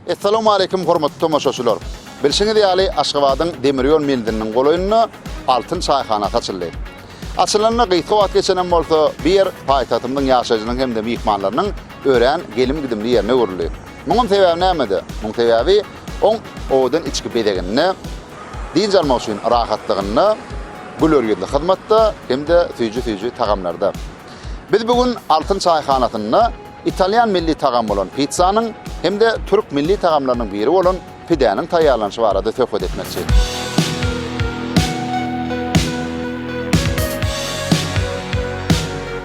Assalamu alaykum hormatly tomaşaçylar. Bilşiňiz ýaly Aşgabadyň demir ýol menziliniň golaýynda Altyn çaýhana açyldy. Açylanyna gysga wagt geçenem bolsa, bu ýer paýtagtymyzyň ýaşaýjylarynyň hem-de myhmanlarynyň örän gelim-gidimli ýerine öwrüldi. Munuň sebäbi nämede? Munuň sebäbi oň owadan içki bezeginde Dynç almak üçin rahatlygynda, güler ýüzli hyzmatda hem-de süýji-süýji tagamlarda. Biz bu gün Altyn çaýhanasynda italýan milli tagamy bolan pitsanyň hem-de türk milli tagamlarynyň biri bolan pidäniň taýýarlanyşy barada söhbet etmekçi.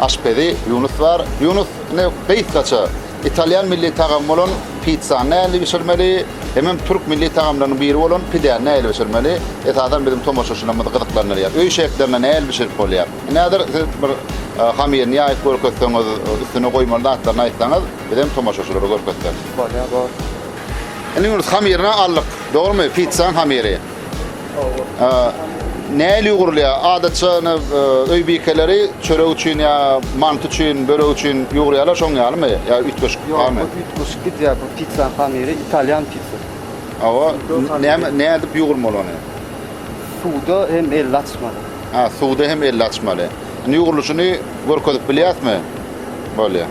Aşpezi Ýunus bar. Ýunus, ine, gysgaça, italýan milli tagamy bolan pitsany nähili bişirmeli, hemem türk milli tagamlarynyň biri bolan pidäni nähili bişirmeli, esasan, biziň tomaşaçylarymyzy gyzyklandyrýar. Öý şertlerinde nähili bişirip bolýar? Indi häzir siz bir hamyryny ýaýyp görkezseňiz, üstüne goýmaly zatlaryny aýtsaňyz, biz hem tomaşaçylara görkezsek. Bolýar, bor. Indi, Ýunus, hamyryny aldyk, dogrumy? Pitsanyň hamyry. Nähili ýugurylýar? Adatça ine öý bikeleri çörek üçin ýa manty üçin, börek üçin ýugurýarlar, şoň ýalymy? Ýa üýtgeşik barmy? Ýok, bu üýtgeşik gidýär. Bu pitsanyň hamyry italýan pitsasy. Hawa, näme, näme edip ýugurmaly ony? Suwda hem elli açmaly. Ha, suwda hem elli açmaly. Indi ýugrulyşyny görkezip bilýäsmi? Bolýar.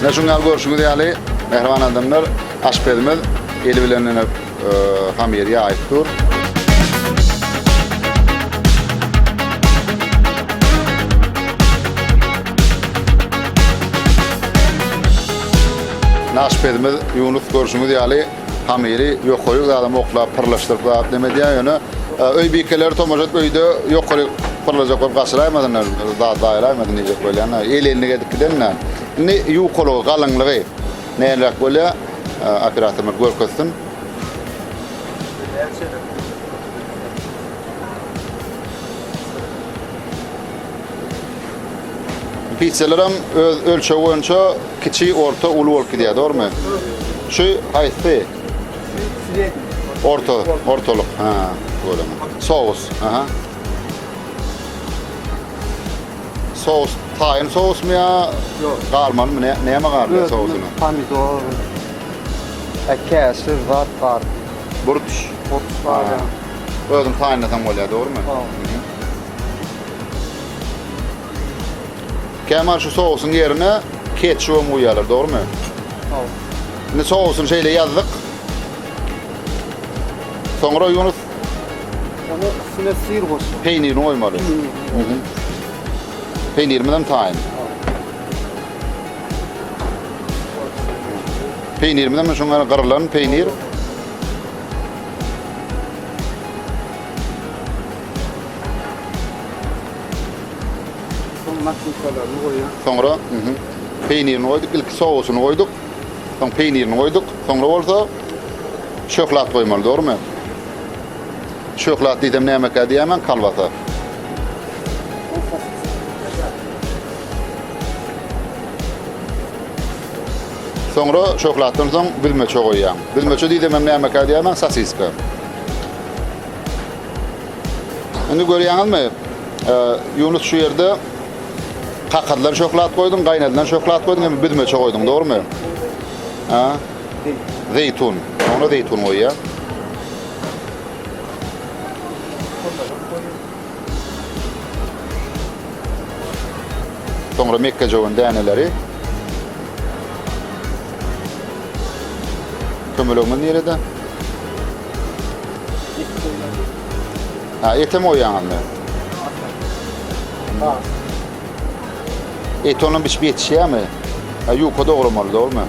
Mine şu gal görşüňiz ýaly, mähriban adamlar, aşpezimiz eli bilen ine hamyry ýaýyp dur. Aşpezimiz Ýunus görşüňiz ýaly Hamyry ýokaryk zadam oklap pyrlaşdyryp zat neme edýär ýöne öý bikeleri tomaşa edip öýde ýokaryk pyrlajak bolup gaçyraýmasynlar zat zaýalaýmasyn diýjek bolýan-da el ellik edip gidende indi ýukalygy galyňlygy näleräk bolýar operatorymyz görkezsin. Pizzalarym öz ölçegi boýunça kiçi, orta, uly bolup gidýär, dogrymy? Şu haýsy? Srednýi. Orta, ortalyk. Ha, bolama. Sous, aha. Sous, taýyn sousmy ýa? Ýok. Garmalymy, ne, näme garly sousuny? Pomidor. E, käşir, zat bar. Burç. Burç bar. Özüň taýynlasaň bolýar, dogrymy? Dogry. Kämal şu sousuň ýerine ketçubam guýýarlar, dogrymy? Hawa. Indi sousuny şeýle ýazdyk. Soňra Ýunus Ony üstüne syr goş. Peýnirini goýmaly. Peýnirimiz hem taýyn. Peýnirimiz hem şuň ýaly gyrylan peýnir. Soň makruçalaryny goýýan. Soňra peýnirini goýduk, ilki sousyny goýduk. Soň peýnirini goýduk. Soňra bolsa şöhlat goýmaly, dogrumy? Şöhlat diýsem nämekä diýýärmen, kolbasa. Soňra şöhlatdan soň bilmeçe goýýaň. Bilmeçe diýsem hem nämekä diýýärmen, sosiska. Indi görýäňizmi? Ýunus şu ýerde kakadylan şöhlat goýduň, gaýnadylan şöhlat goýduň, hem büzmeçe goýduň, dogrumy? Ha? Zeýtun. Soňra zeýtun goýýar. Soňra mekgejöwen däneleri. Kömelegiňiz nirede? Eti soýýan. Ha, etem oýaňyzmy? Ha. Et onam biçip ýetişýärmi? Ha, ýuka dogramaly, dogrumy?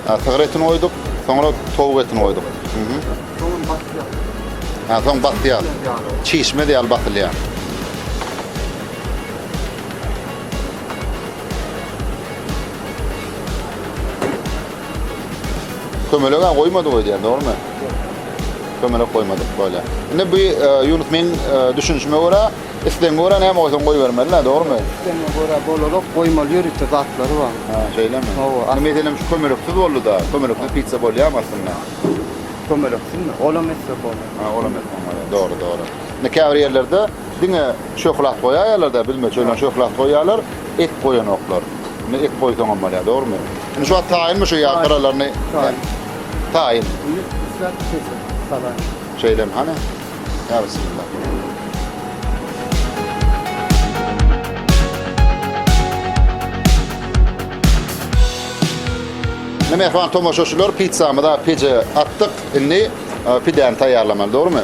Ha, sygyr etini oýduk, soňra towuk etini oýduk. Mhm. Soňun basýar. Ha, soň basýar. Çişmez ýaly basylýar. Kömelege goýmadyk öýdýän, dogrumy? Kömelek goýmadyk bolýar. Indi bu ýunus e, men e, düşünişime görä, islegiňe görä näme goýsaň goýbermeli, dogrumy? Islegiňe görä bolarok, goýmaly ýörite zatlary bar. Ha, şeýlemi? Hawa. Indi meselem şu kömeleksiz boldy-da, kömeleksiz pizza bolýarmy aslynda? Kömeleksizmi? Olam etsek bolar. Ha, olam etseň bolýar. Dogry, dogry. Indi käbir ýerlerde diňe şöhlat goýaýarlar-da, bilme çöýlen şöhlat goýýarlar. Ek goýanoklar. Indi ek goýsaňam bolýar, dogrumy? Indi şu wagt taýynmy şu ýag gyralaryny? Taýyn. Taýyn. Indi isläp bişirsin salam. Şeýlemi hany? Ýa bismillah. Indi mähriban tomaşaçylar, pizzamyzy peje atdyk. Indi pidäni taýýarlamaly, dogrumy?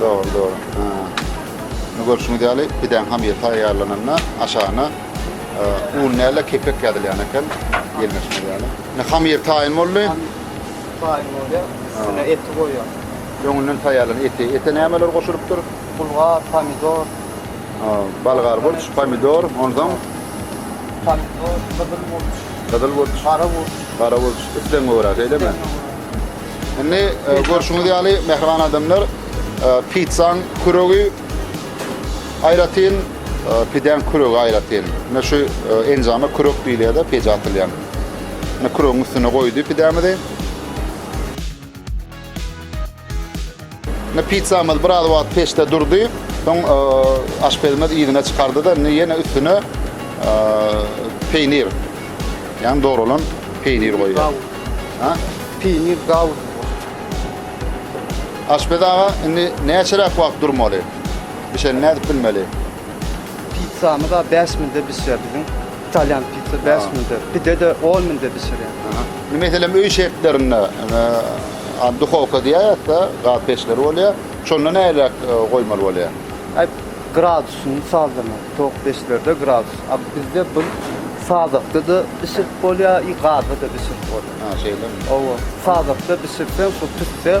Dogry, dogry. Ha. Indi görşüňiz ýaly, pidäň hamyry taýýarlananda aşagyna e, un däl kepek ýazylýan eken. Gelmeşmek ýaly. Indi hamyr taýyn boldy. Taýyn boldy. Üstüne eti goýýar. Öňünden taýýarlan eti. Ete nämeler goşulypdyr? Bulgar, pomidor. Ha, balgar burç, pomidor, ondan pomidor, gyzyl burç. Gyzyl burç. Gara burç. Gara burç. Islegiňe görä, şeýlemi? Indi e, görşüňiz ýaly mähriban adamlar e, pizzaň küregi aýratyn, e, pidäň küregi aýratyn. Ine şu e, enjama kürek diýilýär-de, peje atylýan. Ine küregiň üstüne goýdy pidämizi. Indi pizzamyz biraz wagt peçde durdy. Soň aşpezimiz yzyna çykardy-da, indi ýene üstüne peýnir, ýagny dogralan peýnir goýýar. Ha? Peýnir gawun. Aşpez aga, indi näçeräk wagt durmaly? Bişenini nädip bilmeli? Pizzamyz a bäş minde bişýär biziň. Italýan pizza bäş minde. Pide-de on minde bişirýän. Indi meselem öý şertlerinde a duhowka diýýär ýa-da gaz peçleri bolýar. Şonda näleräk goýmaly bolýar? Aý, gradusyny sazlamak, towuk peçlerde gradus. A bizde bir sazakda-da bişirip bolýar, i gazda-da bişirip bolýar. Ha, şeýlemi? Owo. Sazakda bişirseň, şol tüsse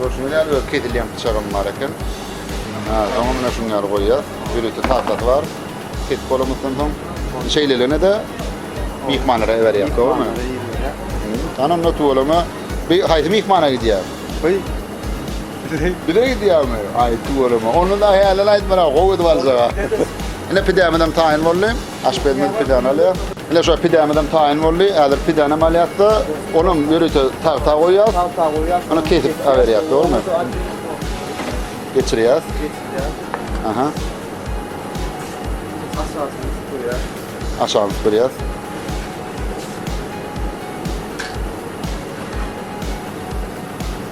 Görüşüňiz ýaly öz kesilýän pyçagym bar eken. Ha, soňam mine şuň ýaly goýýas. Ýörite tahtasy bar. Kesip bolamyzdan soň şeýleligine de myhmanlara iberýär. Dogrymy? Anam da tuwalama. Bir haýsy myhmana gidýär? Beý, Bize gidýärmi? Aýtdy göreme. Onda da hälel aýtmara, gowy edip aljag-a. Ine pidämizem taýyn boldy. Aşpezimiz pidäni alýar. Ine şo pidämizem taýyn boldy. Häzir pidänem alýas-da, olam ýörite tagta goýýas. Tagta goýýas. Ony kesip aberýäs, dogrumy? Geçirýäs. Geçirýäs. Aha. Aşagyny süpürýäs. Aşagyny süpürýäs.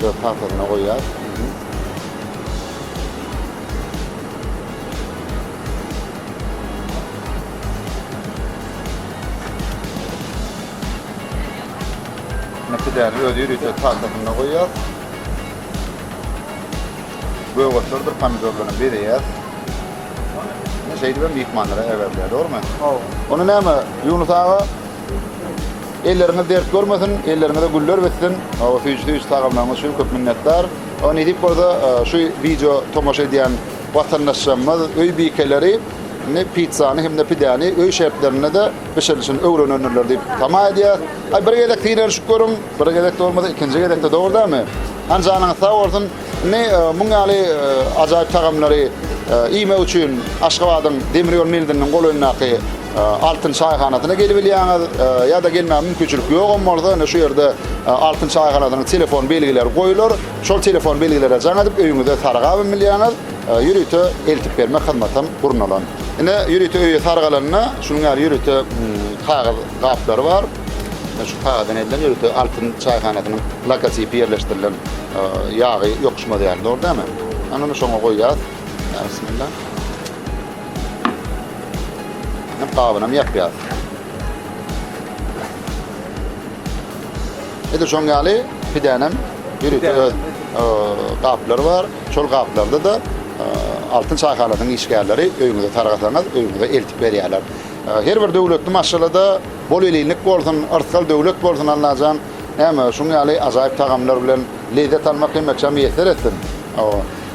Dört tagtasyna goýýas. Ine pidäni özi ýörite tagtasyna goýýas. Göwatlardyr pomidorlaryny bezeýäs. Şeýdibem myhmanlara äberler, dogrumy? Hawa. Onda näme, Ýunus aga? Elleriňiz dert görmesin, elleriňize güller bitsin. Hawa süýji-süýji tagamlaryňyz üçin köp minnetdar. Oňa nesip bolsa, şu wideo tomaşa edýän watandaşlarymyz, öý bikeleri indi pitsany hem-de pidäni öý şertlerinde-de bişirilişini öwrenendirler diýip tama edýäs. Aý, bir gezek synanyşyp görüň, bir gezek-de bolmasa, ikinji gezek-de, dogry dälmi? Hany janyňyz sag bolsun. Indi muň ýaly ajaýyp tagamlary iýmek üçin Aşgabadyň demir ýol mildiginiň golaýyndaky Altyn çaýhanasyna gelibilýäňiz, ýa-da gelmäge mümkinçilik ýogam bolsa, indi şu ýerde Altyn çaýhanasynyň telefon belgileri goýlar. Şol telefon belgilere jaň edip, öýüňize sarygabam bilýäňiz. Ýörite eltip bermek hyzmatam gurnalan. Ine, ýörite öýe saryk alanda, şunuň ýaly ýörite kagyz gaplary bar. Ine, şu kagyzdan edilen ýörite Altyn çaýhanasynyň logotipi ýerleşdirilen ýagy ýokuşmaz ýaly, dogry dälmi? Ine, şoňa goýýas. Bismillah. Hem gabynam ýapýar. Edi şoň ýaly pidänem ýürüte öz gaplary bar. Şol gaplarda da Altyn çaýhanasynyň işgärleri öýüňize sargasaňyz, öýüňize eltip berýärler. Her bir döwletli maşgalada bol elinlik bolsun, yrsgal döwlet bolsun Allajan. Näme, şuň ýaly ajaýyp tagamlar bilen lezzet almak hemmeçe miýesser etsin.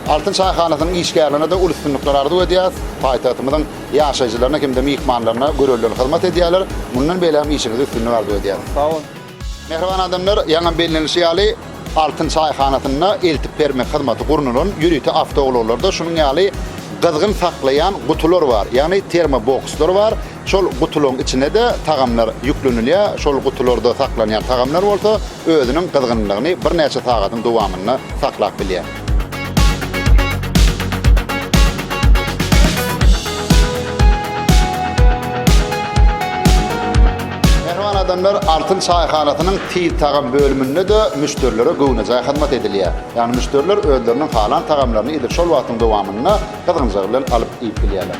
Altyn çaýhanasynyň işgärlerine-de uly üstünlikler arzuw edýäris. Paýtagtymyzyň ýaşaýjylaryna hem-de myhmanlaryna görelde hyzmat edýärler. Mundan beýlägem işiňizde üstünlik arzuw edýäris. Sag boluň. Mähriban adamlar, ýaňam bellenilişi ýaly, Altyn çaýhanasynda eltip bermek hyzmaty gurnalan ýörite awtoulaglarda şunuň ýaly gyzgyn saklaýan gutular bar, ýagny termobokslar bar. Şol gutularyň içine-de tagamlar ýüklenilýär. Şol gutularda saklanýan tagamlar bolsa özüniň gyzgynlygyny birnäçe sagadyň dowamynda saklap bilýär. Mähriban adamlar Altyn çaýhanasynyň Tiz tagam bölüminde-de müşderilere göwnejaý hyzmat edilýär. Ýagny müşderiler özleriniň halan tagamlaryny edil şol wagtyň dowamynda gyzgynjagy bilen alyp iýip bilýärler.